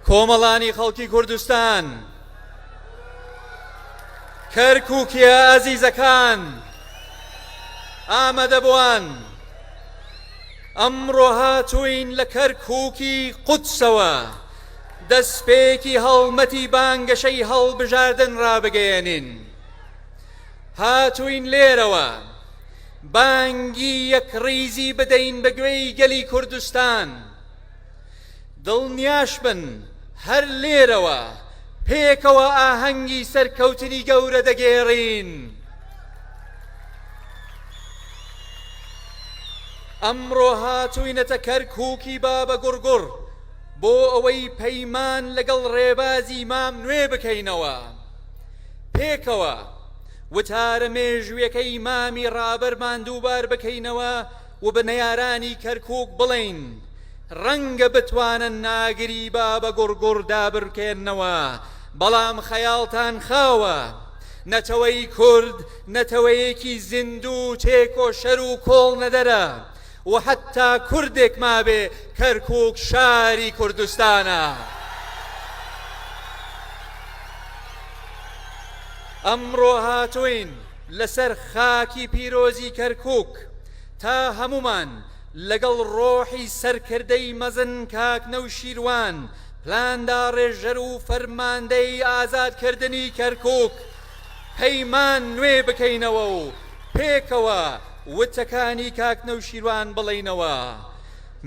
کۆمەڵانی خەڵکی کوردستان کەرکووکیە ئازیزەکان ئامادەبووان ئەمڕۆ هاتووین لە کەرکووکی قودسەوە دەستپێکی هەڵمەتی بانگەشەی هەڵبژاردن ڕابگەیەنین هاتووین لێرەوە بانگی یەکڕیزی بدەین بە گوێی گەلی کوردستان دڵنیاش بن هەر لێرەوە پێکەوە ئاهەنگی سەرکەوتنی گەورە دەگێڕین. ئەمڕۆ هاتووینەتە کەرکووکی بابە گوڕگوڕ بۆ ئەوەی پەیمان لەگەڵ ڕێبازی مام نوێ بکەینەوە. پێکەوە وتارە مێژوویەکەی مامی ڕابەرمان دووبار بکەینەوە، و بە نەیارانی کەرکوک بڵێین ڕەنگە بتوانن ناگری بابە گوڕگوڕ دابرکێننەوە، بەڵام خەیاڵتان خاوە. نەتەوەی کورد نەتەوەیەکی زیندو و تێکۆشەر و کۆڵنەدەرە و حەتا کوردێک مابێ کەرکوک شاری کوردستانە. ئەمڕۆ هاتوین. لەسەر خاکی پیرۆزی کەرکوک تا هەموومان لەگەڵ ڕۆحی سەرکردەی مەزن کاک نەوشیروان پلانداڕێژەر و فەرماندەی ئازادکردنی کەرکوک پەیمان نوێ بکەینەوە و پێکەوە وتەکانی کاک نەوشیروان بڵێینەوە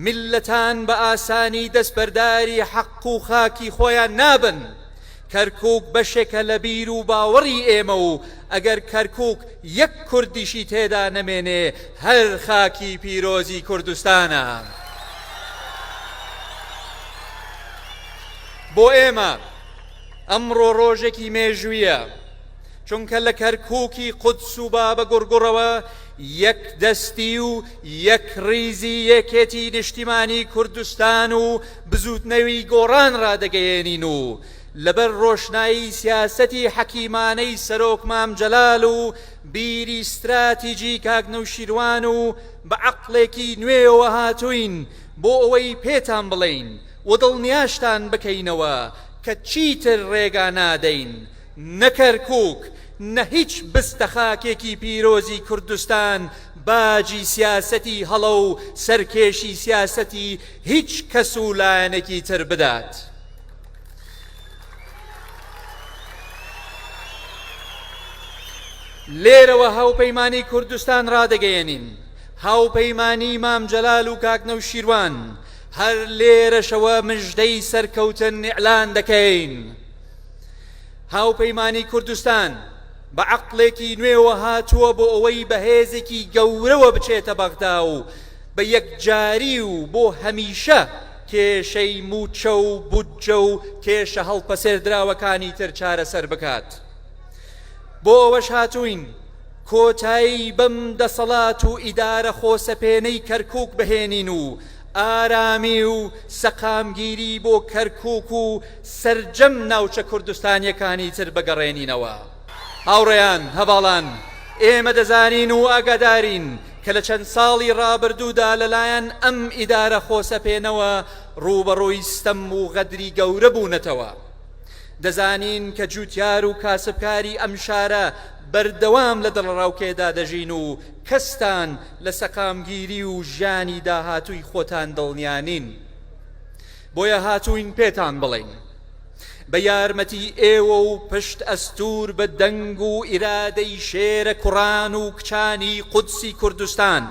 میللەتان بە ئاسانی دەستبەرداری حەق و خاکی خۆیان نابن. کەرکوک بەشێکە لە بیر و باوەڕی ئێمە و ئەگەر کەرکوک یەک کوردیشی تێدا نەمێنێ هەر خاکی پیرۆزی کوردستانە. بۆ ئێمە ئەمڕۆ ڕۆژێکی مێژوویە چونکە لە کەرکوکی قودس و بابە گوڕگوڕەوە یەک دەستی و یەک ڕیزی یەکێتی نیشتیمانی کوردستان و بزووتنەوی گۆڕان ڕادەگەیەنین و لەبەر ڕۆشنایی سیاسەتی حەکیمانەی سەرۆک مام جەلال و بیری ستراتیجی کاک نەوشیروان و بە عەقڵێکی نوێیەوە هاتووین بۆ ئەوەی پێتان بڵێین و دڵنیاشتان بکەینەوە کە چیتر ڕێگا نادەین نە کەرکوک نە هیچ بستە خاکێکی پیرۆزی کوردستان باجی سیاسەتی هەڵە و سەرکێشی سیاسەتی هیچ کەس و لایەنێکی تر بدات. لێرەوە هاوپەیمانی کوردستان ڕادەگەیەنین هاوپەیمانی مام جەلال و کاک نەوشیروان هەر لێرەشەوە مژدەی سەرکەوتن نیعلان دەکەین هاوپەیمانی کوردستان بە عقلێکی نوێوە هاتووە بۆ ئەوەی بەهێزێکی گەورەوە بچێتە بەغدا و بە یەکجاری و بۆ هەمیشە کێشەی مووچە و بودجە و کێشە هەڵپەسێردراوەکانی تر چارەسەر بکات. بۆ ئەوەش هاتووین کۆتایی بەم دەسەڵات و ئیدارە خۆسەپێنەی کەرکووک بهێنین و ئارامی و سەقامگیری بۆ کەرکووک و سەرجەم ناوچە کوردستانییەکانی تر بگەڕێنینەوە. هاوڕێیان، هەڤاڵان، ئێمە دەزانین و ئاگادارین کە لە چەند ساڵی ڕابردوودا لەلایەن ئەم ئیدارە خۆسەپێنەوە ڕووبەڕووی ستەم و غەدری گەورە بوونەتەوە. دەزانین کە جووتیار و کاسبکاری ئەم شارە بەردەوام لە دڵەڕاوکێدا دەژین و کەستان لە سەقامگیری و ژیانی داهاتووی خۆتان دڵنیا نین. بۆیە هاتووین پێتان بڵێین بە یارمەتی ئێوە و پشت ئەستوور بە دەنگ و ئیرادەی شێرە کوڕان و کچانی قودسی کوردستان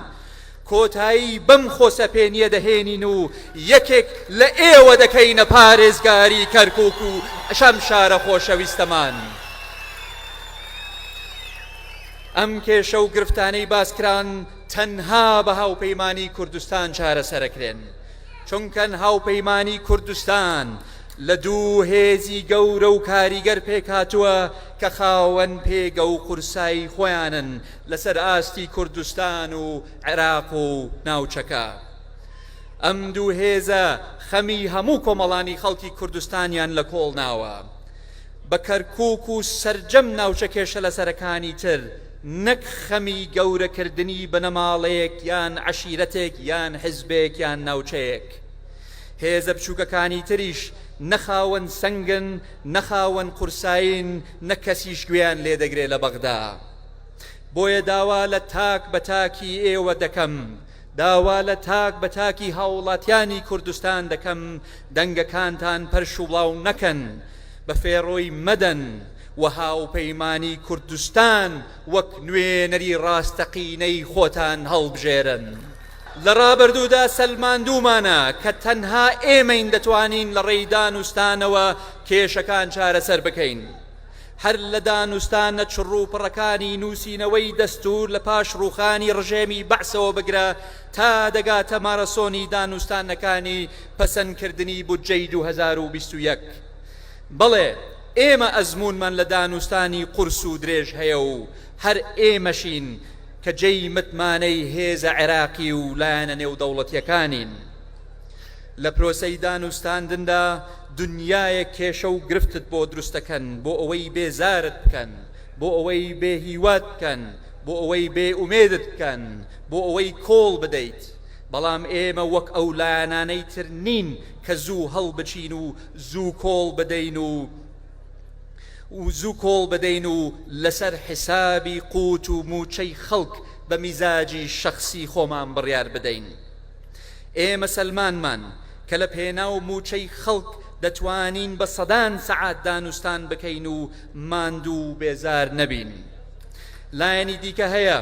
کۆتایی بەم خۆسەپێنیە دەهێنین و یەکێک لە ئێوە دەکەینە پارێزگاری کەرکک و ئەشەم شارە خۆشەویستەمان. ئەم کێشە و گرفتانەی باسکران تەنها بە هاوپەیمانی کوردستان چارەسەرەکرێن. چونکەن هاوپەیمانی کوردستان لە دوو هێزی گەورە و کاریگەر پێکهاتووە کە خاوەن پێگە و قورسایی خۆیانن لەسەر ئاستی کوردستان و عێراق و ناوچەکە. ئەم دوو هێزە خەمی هەموو کۆمەڵانی خەڵکی کوردستانیان لە کۆڵ ناوە بە کەرکوک و سەرجەم ناوچە کێشەلەسەرەکانی تر، نەک خەمی گەورەکردنی بنەماڵەیەک یان عەشیرەتێک یان حزبێک یان ناوچەیەک. هێزە بچووکەکانی تریش نە خاوەن سەنگن، نە خاوەن قورسایین، نە کەسیش گوێیان لێ دەگرێ لە بەغدا. بۆیە داوا لە تاک بە تاکی ئێوە دەکەم، داوا لە تاک بە تاکی هاوڵاتیانی کوردستان دەکەم دەنگەکانتان پەرش و بڵاو نەکەن، بە فێڕۆی مەدەن، و هاوپەیمانی کوردستان وەک نوێنەری ڕاستەقینەی خۆتان هەڵبژێرن. لە ڕابردوودا سەلماندوومانە کە تەنها ئێمەین دەتوانین لە ڕێی دانوستانەوە کێشەکان چارەسەر بکەین. هەر لە دانوستانە چڕوپڕەکانی نووسینەوەی دەستوور لە پاش ڕووخانی ڕژێمی بەعسەوە بگرە تا دەگاتە مارەسۆنی دانوستانەکانی پەسەندکردنی بودجەی دوو هەزار و بیست و یەک، بەڵێ ئێمە ئەزموونمان لە دانوستانی قورس و درێژ هەیە و هەر ئێمەشین کە جێی متمانەی هێزە عێراقی و لایەنە نێودەوڵەتییەکانین. لە پرۆسەی دانوستاندندا دنیایەک کێشە و گرفتت بۆ دروست دەکەن بۆ ئەوەی بێزارت بکەن، بۆ ئەوەی بێهیوات بکەن، بۆ ئەوەی بێئومێدت بکەن، بۆ ئەوەی کۆڵ بدەیت. بەڵام ئێمە وەک ئەو لایەنانەی تر نین کە زوو هەڵبچین و زوو کۆڵ بدەین و زوو کۆڵ بدەین و لەسەر حیسابی قووت و مووچەی خەڵک بە میزاجی شەخسی خۆمان بڕیار بدەین. ئێمە سەلمانمان کە لە پێناو مووچەی خەڵک دەتوانین بە سەدان سەعات دانوستان بکەین و ماندوو و بێزار نەبین. لایەنی دیکە هەیە.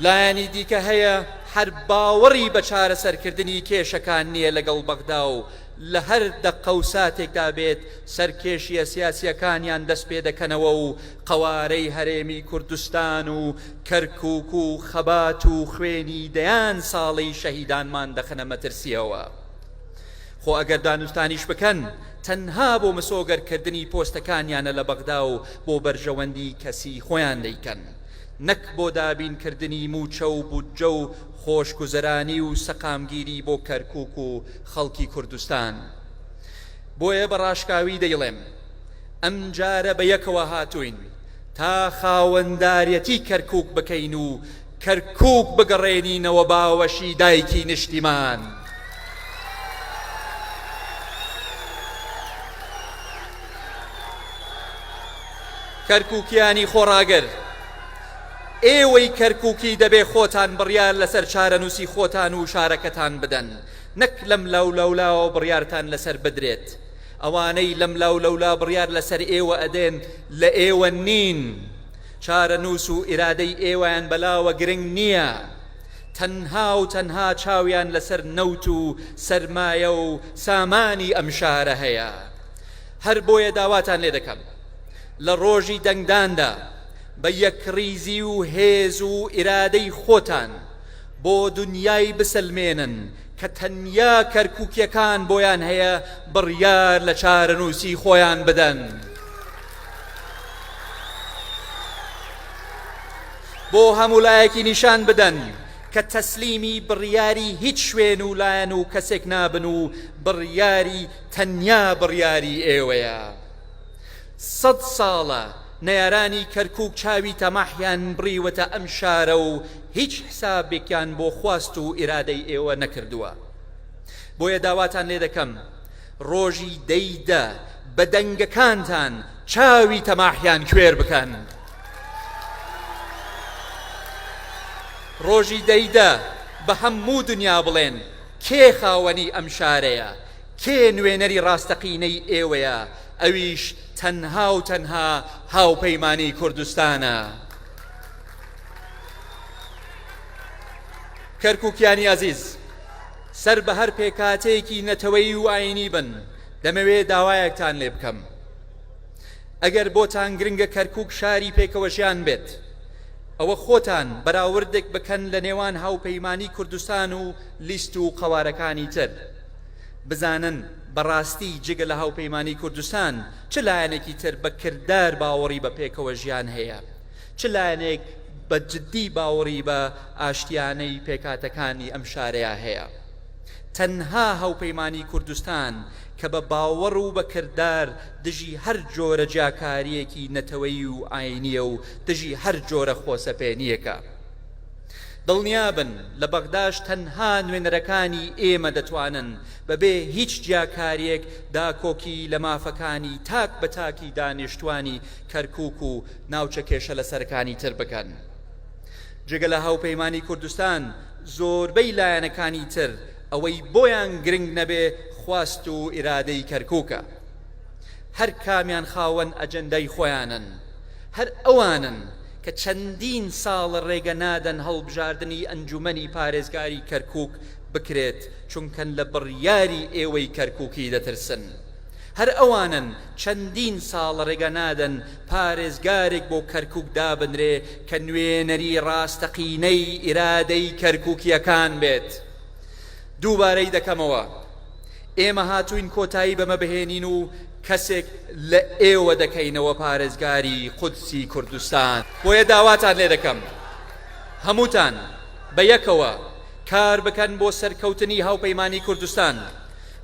لایەنی دیکە هەیە هەر باوەڕی بە چارەسەرکردنی کێشەکان نییە لەگەڵ بەغدا و لە هەر دەقە و ساتێکدا بێت سەرکێشیە سیاسیەکانیان دەست پێ دەکەنەوە و قەوارەی هەرێمی کوردستان و کەرکوک و خەبات و خوێنی دەیان ساڵەی شەهیدانمان دەخەنە مەترسیەوە. خۆ ئەگەر دانوستانیش بکەن تەنها بۆ مسۆگەر کردنی پۆستەکانیانە لە بەغدا و بۆ بەرژەوەندی کەسی خۆیان دەیکەن نەک بۆ دابین کردنی موچە و بودجە و خۆش گوزەرانی و سەقامگیری بۆ کەرکوک و خەڵکی کوردستان بۆیە بە ڕاشکاوی دەیڵێم ئەم جارە بە یەکەوە هاتوین تا خاوەندارێتی کەرکوک بکەین و کەرکوک بگەڕێنینەوە باوەشی دایکی نیشتیمان. کەرکوکیانی خۆڕاگر ئێوەی کەرکوکی دەبێ خۆتان بڕیار لەسەر چارەنووسی خۆتان و شارەکەتان بدەن نەک لەم لاو لەولاوە بڕیارتان لەسەر بدرێت ئەوانەی لەم لاو لەولا بڕیار لەسەر ئێوە ئەدێن لە ئێوە نین چارەنووس و ئیرادەی ئێوەیان بەلاوە گرنگ نییە، تەنها و تەنها چاویان لەسەر نەوت و سەرمایە و سامانی ئەم شارە هەیە. هەر بۆیە داواتان لێ دەکەم لە ڕۆژی دەنگداندا بە یەکڕیزی و هێز و ئیرادەی خۆتان بۆ دونیای بسەلمێنن کە تەنیا کەرکوکیەکان بۆیان هەیە بڕیار لە چارەنووسی خۆیان بدەن. بۆ هەموو لایەکی نیشان بدەن کە تەسلیمی بڕیاری هیچ شوێن و لایەن و کەسێک نابن و بڕیاری تەنیا بڕیاری ئێوەیە سەد ساڵە نەیارانی کەرکک چاوی تەماحیان بڕیوەتە ئەم شارە و هیچ حسابێکیان بۆ خواست و ئیرادەی ئێوە نەکردووە بۆیە داواتان لێ دەکەم ڕۆژی دە ی دە بە دەنگەکانتان چاوی تەماحیان کوێر بکەن ڕۆژی دە ی دە بە هە موو دنیا بڵێن کێ خاوەنی ئەم شارەیە کێ نوێنەری ڕاستەقینەی ئێوەیە ئەویش تەنها و تەنها هاوپەیمانی کوردستانە کەرکوکیانی ئازیز. سەر بە هەر پێکهاتەیەکی نەتەوەیی و ئایینی بن، دەمەوێ داوایەکتان لێ بکەم. ئەگەر بۆتان گرنگە کەرکووک شاری پێکەوەژیان بێت، ئەوە خۆتان بەراوردێک بکەن لە نێوان هاوپەیمانیی کوردستان و لیست و قەوارەکانی تر، بزانن بە ڕاستی جگە لە هاوپەیمانیی کوردستان چ لایەنێکی تر بە کردار باوەڕی بە پێکەوەژیان هەیە. چ لایەنێک بە جدی باوەڕی بە ئاشتیانەی پێکهاتەکانی ئەم شارەیا هەیە؟ تەنها هاوپەیمانی کوردستان کە بە باوەڕ و بە کردار دژی هەر جۆرە جیاکارییەکی نەتەوەیی و ئاینییە و دژی هەر جۆرە خۆسەپێنییەکە. دڵنیابن لە بەغداش تەنها نوێنەرەکانی ئێمە دەتوانن بە بێ هیچ جیاکارییەک داکۆکی لە مافەکانی تاک بە تاکی دانیشتوانی کەرکوک و ناوچە کێشە لەسەرەکانی تر بکەن. جگە لە هاوپەیمانی کوردستان زۆربەی لایەنەکانی تر ئەوەی بۆیان گرنگ نەبێ خواست و ئیرادەی کەرکوکە. هەر کامیان خاوەن ئەجندای خۆیانن. هەر ئەوانن کە چەندین ساڵە رێگە نادەن هەڵبژاردنی ئەنجومەنی پارێزگاری کەرکوک بکرێت چونکە لە بڕیاری ئێوەی کەرکوکی دەترسن. هەر ئەوانن چەندین ساڵە رێگە نادەن پارێزگارێک بۆ کەرکوک دابنرێ کە نوێنەری ڕاستەقینەی ئیرادەی کەرکوکییەکان بێت. دووبارەی دەکەمەوە، ئێمە هاتووین کۆتایی بەمە بهێنین و کەسێک لە ئێوە دەکەینەوە پارێزگاری قودسی کوردستان. بۆیە داواتان لێ دەکەم هەمووتان بە یەکەوە کار بکەن بۆ سەرکەوتنی هاوپەیمانیی کوردستان،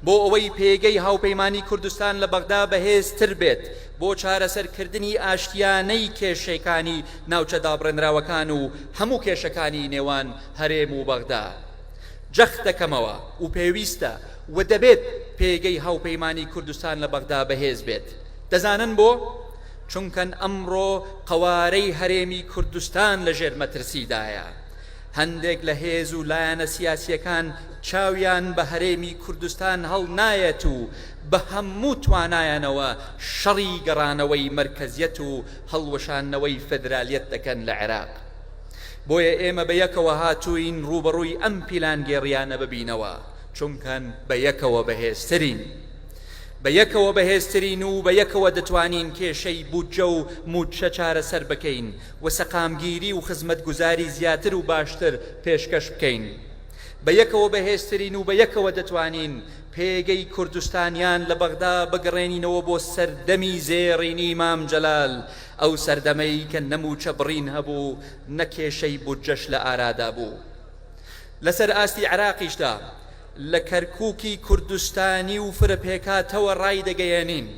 بۆ ئەوەی پێگەی هاوپەیمانیی کوردستان لە بەغدا بەهێزتر بێت، بۆ چارەسەرکردنی ئاشتیانەی کێشەکانی ناوچە دابڕێنراوەکان و هەموو کێشەکانی نێوان هەرێم و بەغدا جەخت دەکەمەوە و پێویستە و دەبێت پێگەی هاوپەیمانی کوردستان لە بەغدا بەهێز بێت دەزانن بۆ؟ چونکەن ئەمڕۆ قەوارەی هەرێمی کوردستان لە ژێر مەترسیدایە هەندێک لە هێز و لایەنە سیاسییەکان چاویان بە هەرێمی کوردستان هەڵنایەت و بە هەموو توانایانەوە شەڕی گەڕانەوەی مەرکەزیەت و هەڵوەشاندنەوەی فێدرالیەت دەکەن لە عێراق. بۆیە ئێمە بە یەکەوە هاتووین ڕووبەڕووی ئەم پیلانگێڕییانە ببینەوە، چونکە بە یەکەوە بەهێزترین. بە یەکەوە بەهێزترین و بە یەکەوە دەتوانین کێشەی بودجە و مووچە چارەسەر بکەین و سەقامگیری و خزمەتگوزاری زیاتر و باشتر پێشکەش بکەین. بە یەکەوە بەهێزترین و بە یەکەوە دەتوانین پێگەی کوردستانیان لە بەغدا بگڕێنینەوە بۆ سەردەمی زێڕینی مام جەلال، ئەو سەردەمەی کە نە مووچە بڕین هەبوو، نە کێشەی بودجەش لە ئارادا بوو. لەسەر ئاستی عێراقیشدا، لە کەرکووکی کوردستانی و فرە پێکهاتەوە ڕایدەگەیێنین،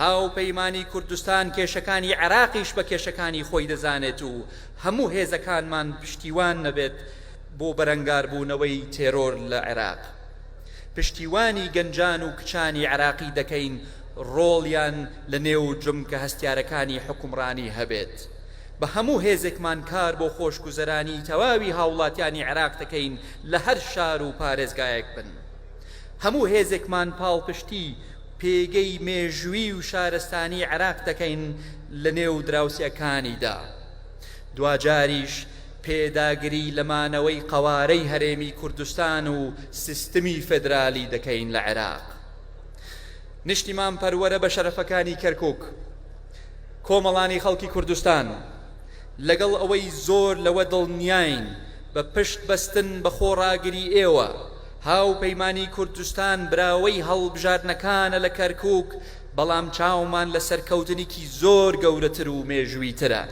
هاوپەیمانی کوردستان کێشەکانی عێراقیش بە کێشەکانی خۆی دەزانێت و هەموو هێزەکانمان پشتیوان نەبێت بۆ بەرەنگاربوونەوەی تێرۆر لە عێراق. پشتیوانی گەنجان و کچانی عێراقی دەکەین ڕۆڵیان لە نێو جومگە هەستیارەکانی حوکمڕانی هەبێت. بە هەموو هێزێکمان کار بۆ خۆشگوزەرانیی تەواوی هاوڵاتیانی عێراق دەکەین لە هەر شار و پارێزگایەک بن. هەموو هێزێکمان پاڵپشتی پێگەی مێژوویی و شارستانیی عێراق دەکەین لە نێو دراوسێکانیدا. دواجاریش پێداگری لە مانەوەی قەوارەی هەرێمی کوردستان و سیستمی فێدرالی دەکەین لە عێراق. نیشتیمان پەروەرە بە شەرەفەکانی کەرکوک. کۆمەڵانی خەڵکی کوردستان لەگەڵ ئەوەی زۆر لەوە دڵنیاین بە پشت بەستن بە خۆڕاگری ئێوە، هاوپەیمانی کوردستان براوەی هەڵبژاردنەکانە لە کەرکوک، بەڵام چاومان لە سەرکەوتنیکی زۆر گەورەتر و مێژوویترە.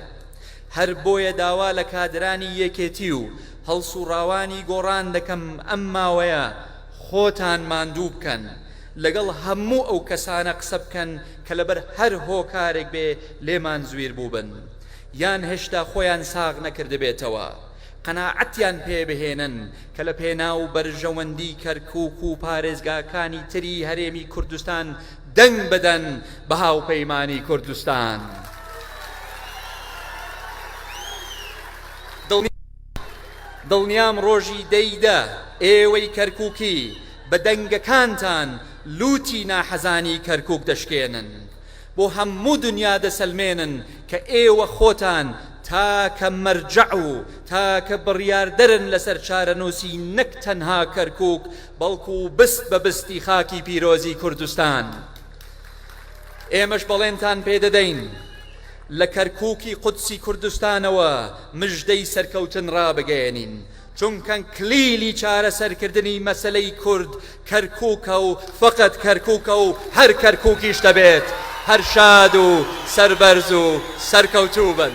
هەر بۆیە داوا لە کادرانی یەکێتی و هەڵسوڕاوانی گۆڕان دەکەم ئەم ماوەیە خۆتان ماندوو بکەن لەگەڵ هەموو ئەو کەسانە قسە بکەن کە لەبەر هەر هۆکارێک بێ لێمان زویر بووبن یان هێشتا خۆیان ساغ نەکردبێتەوە قەناعەتیان پێ بهێنن کە لە پێناو بەرژەوەندی کەرکوک و پارێزگاکانی تری هەرێمی کوردستان دەنگ بدەن بە هاوپەیمانی کوردستان. دڵنیام ڕۆژی دە ی دە ئێوەی کەرکووکی بە دەنگەکانتان لووتی ناحەزانی کەرکووک دەشکێنن. بۆ هەموو دنیا دەسەلمێنن کە ئێوە خۆتان تاکە مەرجەع و تاکە بڕیاردەرن لەسەر چارەنووسی نەک تەنها کەرکووک، بەڵکو بست بە بستی خاکی پیرۆزی کوردستان ئێمەش بەڵێنتان پێ دەدەین لە کەرکووکی قودسی کوردستانەوە مژدەی سەرکەوتن ڕابگەیەنین، چونکە کلیلی چارەسەرکردنی مەسەلەی کورد کەرکووکە و فەقەت کەرکووکە و هەر کەرکووکیش دەبێت، هەر شاد و سەربەرز و سەرکەوتوو بن.